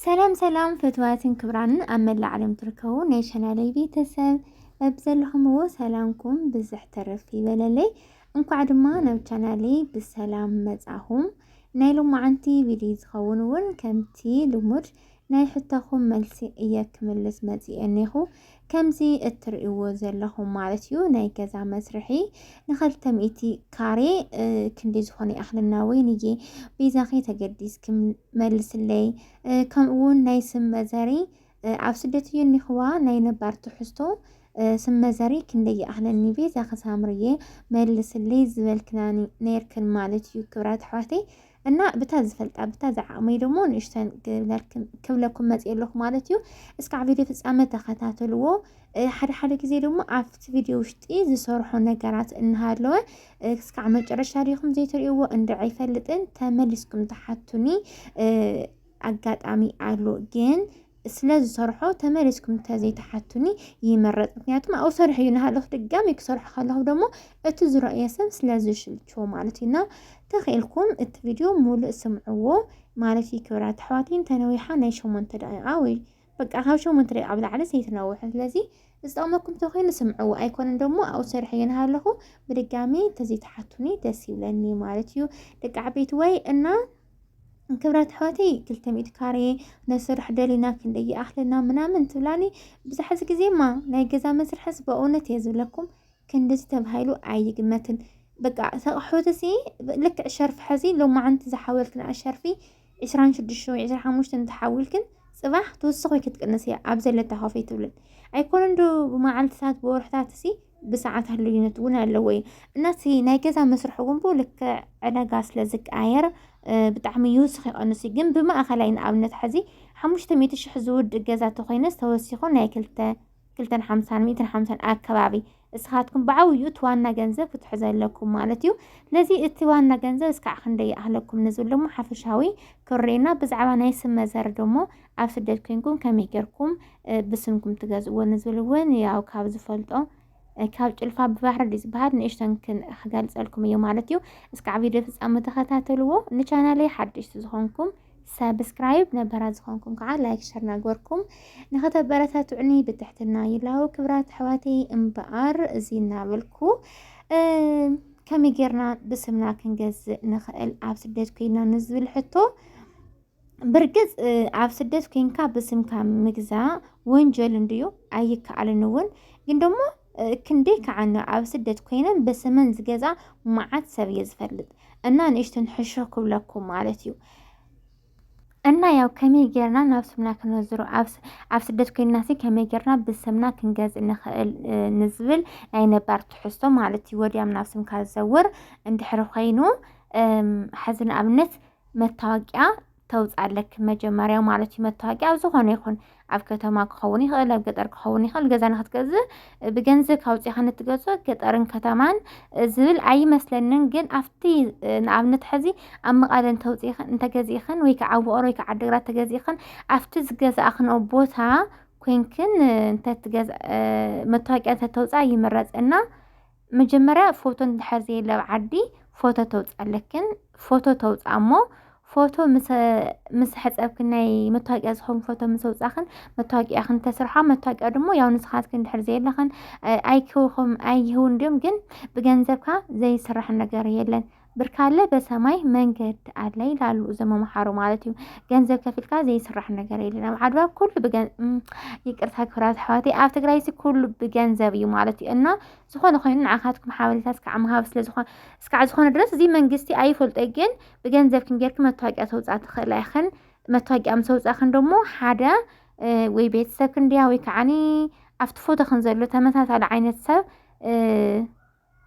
ሰላም ሰላም ፈትዋትን ክብራንን ኣብ መላእ ዓለም ትርከቡ ናይ ቻናለይ ቤተሰብ በብዘለኹምዎ ሰላምኩም ብዝሕ ተረፍ ይበለለይ። እንኳዕ ድማ ናብ ቻናለይ ብሰላም መጻኹም። ናይ ሎማዓንቲ ቪድዮ ዝኸውን እውን ከምቲ ልሙድ ናይ ሕቶኹም መልሲ እየ ክምልስ መፂኤ እኔኹ። ከምዚ እትርእይዎ ዘለኹም ማለት እዩ ናይ ገዛ መስርሒ ንኸልተ ሚእቲ ካሬ ክንዲ ዝኾነ ይኣኽለና ወይንዬ ቤዛኺ ተገዲስኪ መልስለይ ከምኡ እውን ናይ ስም መዘሪ ኣብ ስደት እዩ እኒኽዋ ናይ ነባር ትሕዝቶ ስም መዘሪ ክንደይ ይኣኽለኒ ቤዛኺ ሳምርዬ መልስለይ ዝበልክናኒ ነይርክን ማለት እዩ ክብራት ኣሕዋተይ እና ብታ ዝፈልጣ ብታ ዝዓቕመይ ደሞ ንእሽተን ክብለኩም መፅእ ኣለኹ ማለት እዩ። እስካዕ ቪድዮ ፍፃመ ተኸታተልዎ። ሓደ ሓደ ግዜ ደሞ ኣብቲ ቪድዮ ውሽጢ ዝሰርሖ ነገራት እናሃለወ እስካዕ መጨረሻ ሪኢኹም ዘይትሪእዎ እንድዕ ኣይፈልጥን ተመሊስኩም ተሓቱኒ ኣጋጣሚ ኣሎ ግን ስለ ዝሰርሖ ተመሊስኩም እንተዘይትሓቱኒ ይመረፅ ምክንያቱም ኣብኡ ሰርሑ እዩ ናሃለኹ ድጋሚ ክሰርሖ ከለኹ ደሞ እቲ ዝረእዮ ሰብ ስለ ዝሽልችዎ ማለት እዩ እና ተኽኢልኩም እቲ ቪድዮ ሙሉእ ስምዕዎ ማለት እዩ ክብራት ኣሕዋተይ እንተነዊሓ ናይ ሸሞንተ ደቂቃ ወይ በቃ ካብ ሸሞንተ ደቂቃ ብላዕሊ ዘይትነውሑ ስለዚ ዝጠቕመኩም ተኮይኑ ስምዕዎ ኣይኮነን ደሞ ኣብኡ ሰርሐ የንሃለኹ ብድጋሚ ተዘይትሓቱኒ ደስ ይብለኒ ማለት እዩ ደቂ ዓበይቲ ወይ እና ክብረት ሕወተይ ክልተ ሚእቲ ካሬ ነስርሕ ደሊና ክንደይ ይኣኽለና ምናምን ትብላኒ ብዛሕዚ ግዜማ ናይ ገዛ መስርሐስ በእውነት እየ ዝብለኩም ክንድዚ ተባሂሉ ኣይግመትን በቃ ተቕሑት እዚ ልክዕ ሸርፊ ሕዚ ሎማዓንቲ ዝሓወልክና ሸርፊ ዕስራን ሽዱሽተ ወይ ዕስራ ሓሙሽተን ተሓዊልክን ጽባሕ ትውስኽ ወይ ክትቅንስ እያ ኣብ ዘለታ ኮፍ ኣይትብልን ኣይኮነን ዶ ብመዓልትታት ብወርሕታት ሲ ብሰዓታት ልዩነት እውን ኣለዎ እዩ እና እቲ ናይ ገዛ መስርሒ እውን ብኡ ልክዕ ዕዳጋ ስለ ዝቀያየር ብጣዕሚ ይውስኽ ይቐንስ እዩ ግን ብማእኸላይ ንኣብነት ሕዚ ሓሙሽተ ሚእቲ ሽሕ ዝውድእ ገዛ ተኮይነስ ተወሲኹ ናይ ክልተ ክልተን ሓምሳን ሚእትን ሓምሳን ኣከባቢ እስኻትኩም ብዓብዩ እቲ ዋና ገንዘብ ክትሕዘ ኣለኩም ማለት እዩ ስለዚ እቲ ዋና ገንዘብ እስካዕ ክንደይ ይኣህለኩም ንዝብል ደሞ ሓፈሻዊ ክርኤና ብዛዕባ ናይ ስም መዘር ደሞ ኣብ ስደት ኮንኩም ከመይ ጌርኩም ብስምኩም ትገዝእዎ ንዝብል እውን ያው ካብ ዝፈልጦ ካብ ጭልፋ ብባህሪ ድዩ ዝበሃል ንእሽተን ክገልፀልኩም እዩ ማለት እዩ እስካዕ ቪድዮ ፍፃሙ ተኸታተልዎ ንቻናለይ ሓደሽቲ ዝኾንኩም ሳብስክራይብ ነባራት ዝኾንኩም ከዓ ላይክ ሸር ናግበርኩም ንኸተበረታትዑኒ ብትሕትና ይላው ክብራት ኣሕዋተይ እምበኣር እዚ እናበልኩ ከመይ ጌርና ብስምና ክንገዝእ ንኽእል ኣብ ስደት ኮይና ንዝብል ሕቶ ብርግፅ ኣብ ስደት ኮይንካ ብስምካ ምግዛ ወንጀል እንድዩ ኣይከኣልን እውን ግን ደሞ ክንደይ ከዓ ን ኣብ ስደት ኮይነን ብስመን ዝገዛ መዓት ሰብ እየ ዝፈልጥ እና ንእሽተን ሕሾ ክብለኩም ማለት እዩ እና ያው ከመይ ጌርና ናብ ስምና ክነዝሮ ኣብ ስደት ኮይና ሲ ከመይ ጌርና ብስምና ክንገዝእ ንኽእል ንዝብል ናይ ነባር ትሕዝቶ ማለት እዩ ወዲያም ናብ ስምካ ዝዘውር እንድሕሪ ኮይኑ ሐዚ ንኣብነት መታወቂያ ተውፅእ ኣለኪ መጀመርያ ማለት እዩ መታወቂያ ኣብ ዝኾነ ይኹን ኣብ ከተማ ክኸውን ይኽእል ኣብ ገጠር ክኸውን ይኽእል ገዛ ንክትገዝእ ብገንዘብ ካውፅኻ ንትገዞ ገጠርን ከተማን ዝብል ኣይመስለንን ግን ኣብቲ ንኣብነት ሕዚ ኣብ መቐለ እንተውፅኢኽን እንተገዚእኽን ወይ ከዓ ኣብ ውቕሮ ወይ ከዓ ዓዲግራት ተገዚእኽን ኣብቲ ዝገዛእኽንኦ ቦታ ኮንክን እንተትገዝ መታወቂያ እንተተውፅኣ ይምረፅ እና መጀመርያ ፎቶ እንድሕር ዘየለ ኣብ ዓዲ ፎቶ ተውፅእ ኣለክን ፎቶ ተውፅኣ እሞ ፎቶ ምስ ሕፀብክን ናይ መታወቂያ ዝኾን ፎቶ ምስ ኣውፃኽን መታወቂያኽን ተስርሖ መታወቂያ ድሞ ያው ንስኻትክን እንድሕር ዘየለኽን ኣይክውኹም ኣይህውን ድም ግን ብገንዘብካ ዘይስራሕ ነገር የለን ብርካለ በሰማይ መንገድ ኣለ ይላሉ እዞም መምሓሩ ማለት እዩ። ገንዘብ ከፊልካ ዘይስራሕ ነገር የለን ኣብ ዓድዋ ኩሉ ብገን ይቅርታ ክብራት ኣሕዋተይ ኣብ ትግራይ እዚ ኩሉ ብገንዘብ እዩ ማለት እዩ እና ዝኾነ ኮይኑ ንዓኻትኩም ሓበሬታ እስካዕ ምሃብ ስለዝኾነ እስካዕ ዝኾነ ድረስ እዚ መንግስቲ ኣይፈልጦ ግን ብገንዘብ ክንጌርክ መታወቂያ ተውፃ ትኽእላ ይኽን መታወቂያ ምስ ኣውፃእክን ደሞ ሓደ እ፣ ወይ ቤተሰብ ክንድያ ወይ ከዓኒ ኣብቲ ፎቶ ክን ዘሎ ተመሳሳሊ ዓይነት ሰብ እ፣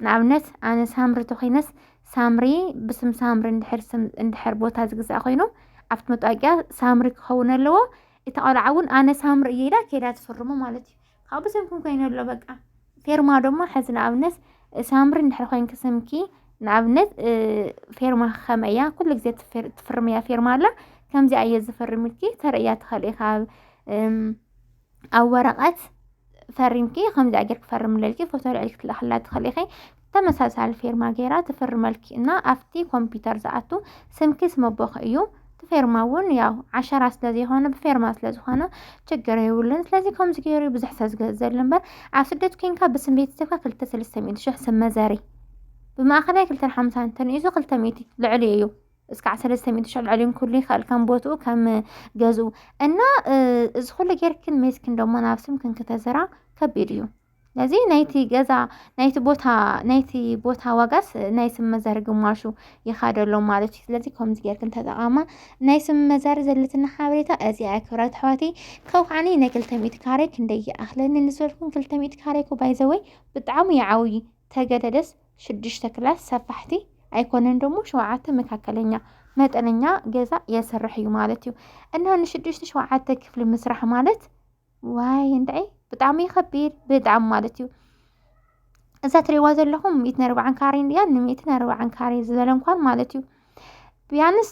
ንኣብነት ኣነ ሳምሪ ተኾይነስ ሳምሪ ብስም ሳምሪ እንድሕር ስም እንድሕር ቦታ ዝግዛእ ኮይኑ ኣብቲ መጣወቂያ ሳምሪ ክኸውን ኣለዎ። እቲ ቆልዓ እውን ኣነ ሳምሪ እየ ኢላ ከይዳ ትፍርሞ ማለት እዩ። ካብኡ ብስምኩም ኮይኑ ኣሎ በቃ ፌርማ ድማ ሕዚ ንኣብነት ሳምሪ እንድሕር ኮይንኪ ስምኪ ንኣብነት ፌርማ ከመ እያ ኩሉ ግዜ ትፍርምያ ፌርማ ኣላ ከምዚኣ እየ ዝፈርምልኪ ተርእያ ትኸእል ኢኻ ኣብ ወረቐት ፈሪምኪ ከምዚ ኣገር ክፈርምለልኪ ፎቶ ልዕል ክትልእክላ ትኽእል ኢኺ ተመሳሳሊ ፌርማ ገይራ ትፍርመልኪ እና ኣብቲ ኮምፒውተር ዝኣቱ ስምኪ ስመቦኺ እዩ ፌርማ እውን ያው ዓሸራ ስለ ዘይኮነ ብፌርማ ስለ ዝኾነ ችግር የብሉን ስለዚ ከምዚ ገይሩ ብዙሕ ሰብ ዝገዘሉ እምበር ኣብ ስደት ኮንካ ብስም ቤተሰብካ ክልተ ሰለስተ ሚእቲ ሽሕ ስም መዘሪ ብማእኸላይ ክልተ ሓምሳ እንተንኢሱ ክልተ ሚእቲ ልዕሊ እዩ እስካዕ ሰለስተ ሚእቲ ሽሕ ልዕሊ ኩሉ ይኽእል ከም ቦትኡ ከም ገዝኡ እና እዚ ኩሉ ጌርክን ሜስክን ደሞ ናብ ስምክን ክተዘራ ከቢድ እዩ ስለዚ ናይቲ ገዛ ናይቲ ቦታ ናይቲ ቦታ ዋጋስ ናይ ስም መዘር ግማሹ ይኻደሎ ማለት እዩ ስለዚ ከምዚ ጌርክን ተጠቓማ ናይ ስም መዘር ዘለትና ሓበሬታ እዚኣ እያ ክብራት ኣሕዋተይ ካብ ከዓኒ ናይ ክልተ ሚእቲ ካሬ ክንደይ ይኣኽለኒ ንዝበልኩም ክልተ ሚእቲ ካሬ እኮ ባይዘወይ ብጣዕሚ ይዓውዪ ተገደደስ ሽዱሽተ ክላስ ሰፋሕቲ ኣይኮነን ደሞ ሸውዓተ መካከለኛ መጠነኛ ገዛ የስርሕ እዩ ማለት እዩ እና ንሽዱሽተ ሸውዓተ ክፍሊ ምስራሕ ማለት ዋይ እንታይ ብጣዕሚ ይኸቢድ ብጣዕሚ ማለት እዩ እዛ ትሪእዋ ዘለኹም ሚእትን ኣርባዓን ካሬ እንድያ ንሚእትን ኣርባዓን ካሬ ዝበለ እንኳን ማለት እዩ ቢያንስ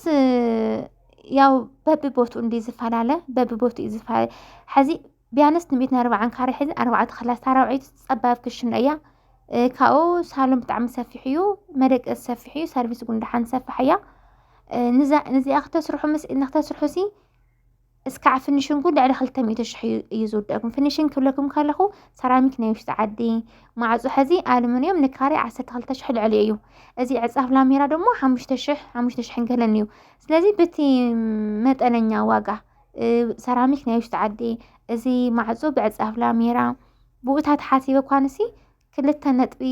ያው በቢ ቦትኡ እንዲ ዝፈላለ በቢ ቦትኡ እዩ ዝፈላለ ሕዚ ቢያንስ ንቤት ኣርባዓን ካሬ ሕዚ ኣርባዕተ ክላስ ታራውዒት ፀባብ ክሽነ እያ ካብኡ ሳሎን ብጣዕሚ ሰፊሕ እዩ መደቀሲ ሰፊሕ እዩ ሰርቪስ እውን ደሓን ሰፋሕ እያ ንዚኣ ክተስርሑ ምስ ኢድና ክተስርሑ ሲ እስካዕ ፍኒሽንጉ ልዕሊ ክልተ ሚእቲ ሽሕ እዩ ዝውደኩም ፍኒሽን ክብለኩም ከለኹ ሰራሚክ ናይ ውሽጢ ዓዲ ማዕፆ ሕዚ ኣልሙኒየም ንካሬ ዓሰርተ ክልተ ሽሕ ልዕሊ እዩ እዚ ዕፃፍ ላሜራ ደግሞ ሓሙሽተ ሽሕ ሓሙሽተ ሽሕን ገለን እዩ ስለዚ በቲ መጠነኛ ዋጋ ሰራሚክ ናይ ውሽጢ ዓዲ እዚ ማዕፆ ብዕፃፍ ላሜራ ብኡታት ሓሲበ ኳንሲ ክልተ ነጥቢ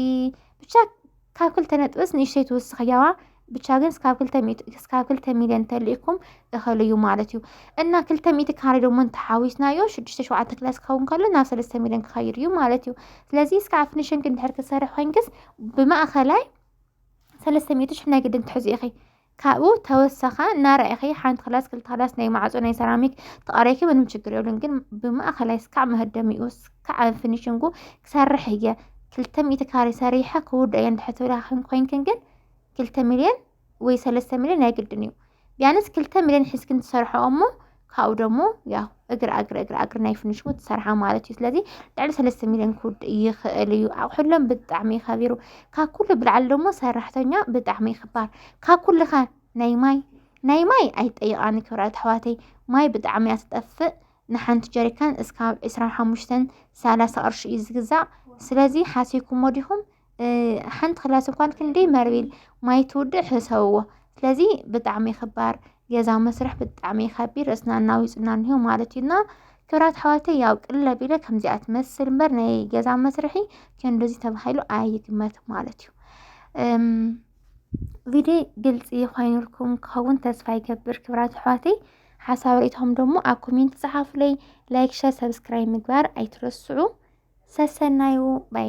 ብቻ ካብ ክልተ ነጥብስ ንእሽተይ ትውስኽ ያዋ ብቻ ግን እስካብ ክልተ ሚእቲ እስካብ ክልተ ሚልዮን ተልኢኩም እኸል እዩ ማለት እዩ እና ክልተ ሚእቲ ካሬ ደሞ እንተሓዊስናዮ ሽዱሽተ ሸውዓተ ክላስ ክኸውን ከሎ ናብ ሰለስተ ሚልዮን ክኸይድ እዩ ማለት እዩ ስለዚ እስካ ኣብ ፊኒሽንግ እንድሕር ክትሰርሕ ኮይንክስ ብማእኸላይ ሰለስተ ሚእቲ ሽሕ ናይ ግድን ትሕዙ ኢኺ ካብኡ ተወሰኻ እናረኣኺ ሓንቲ ክላስ ክልተ ክላስ ናይ ማዕፆ ናይ ሰራሚክ ተቐሪኪ ምንም ችግር የብሉን። ግን ብማእኸላይ ስካዕ መህደሚኡ ስካዕ ፊኒሽንጉ ክሰርሕ እየ ክልተ ሚእቲ ካሬ ሰሪሐ ክውድ እየ እንድሕር ትብላ ኮይንክን ግን ክልተ ሚልዮን ወይ ሰለስተ ሚልዮን ናይ ግድን እዩ። ቢያንስ ክልተ ሚልዮን ሒዝክን ትሰርሖ እሞ ካብኡ ደሞ ያው እግሪ ኣግሪ እግሪ ኣግሪ ናይ ፍንሽሙ ትሰርሓ ማለት እዩ ስለዚ ልዕሊ ሰለስተ ሚልዮን ክውድእ ይኽእል እዩ ኣቑሑሎም ብጣዕሚ ከቢሩ ካብ ኩሉ ብልዓሊ ደሞ ሰራሕተኛ ብጣዕሚ ክባር ካብ ኩሉ ከ ናይ ማይ ናይ ማይ ኣይጠይቓኒ ክብራት ኣሕዋተይ ማይ ብጣዕሚ እያ ትጠፍእ ንሓንቲ ጀሪካን እስካብ ዕስራን ሓሙሽተን ሰላሳ ቅርሺ እዩ ዝግዛእ ስለዚ ሓሲብኩሞ ዲኹም ሓንቲ ክላስ እኳን ክንደይ መርቢል ማይ ትውድእ ሕሰብዎ ስለዚ ብጣዕሚ ክባር ገዛ መስርሕ ብጣዕሚ ከቢድ ርእስና እናዊፅና እኒሆ ማለት እዩና ክብራት ሓዋተ ያው ቅለ ቢለ ከምዚኣ ትመስል እምበር ናይ ገዛ መስርሒ ክንድዚ ተባሂሉ ኣይግመት ማለት እዩ ቪድዮ ግልፂ ኮይኑልኩም ክኸውን ተስፋ ይገብር ክብራት ኣሕዋተይ ሓሳብ ርእቶም ደግሞ ኣብ ኮሜንት ፀሓፉለይ ላይክ ሸር ሰብስክራይብ ምግባር ኣይትረስዑ ሰሰናዩ ባይ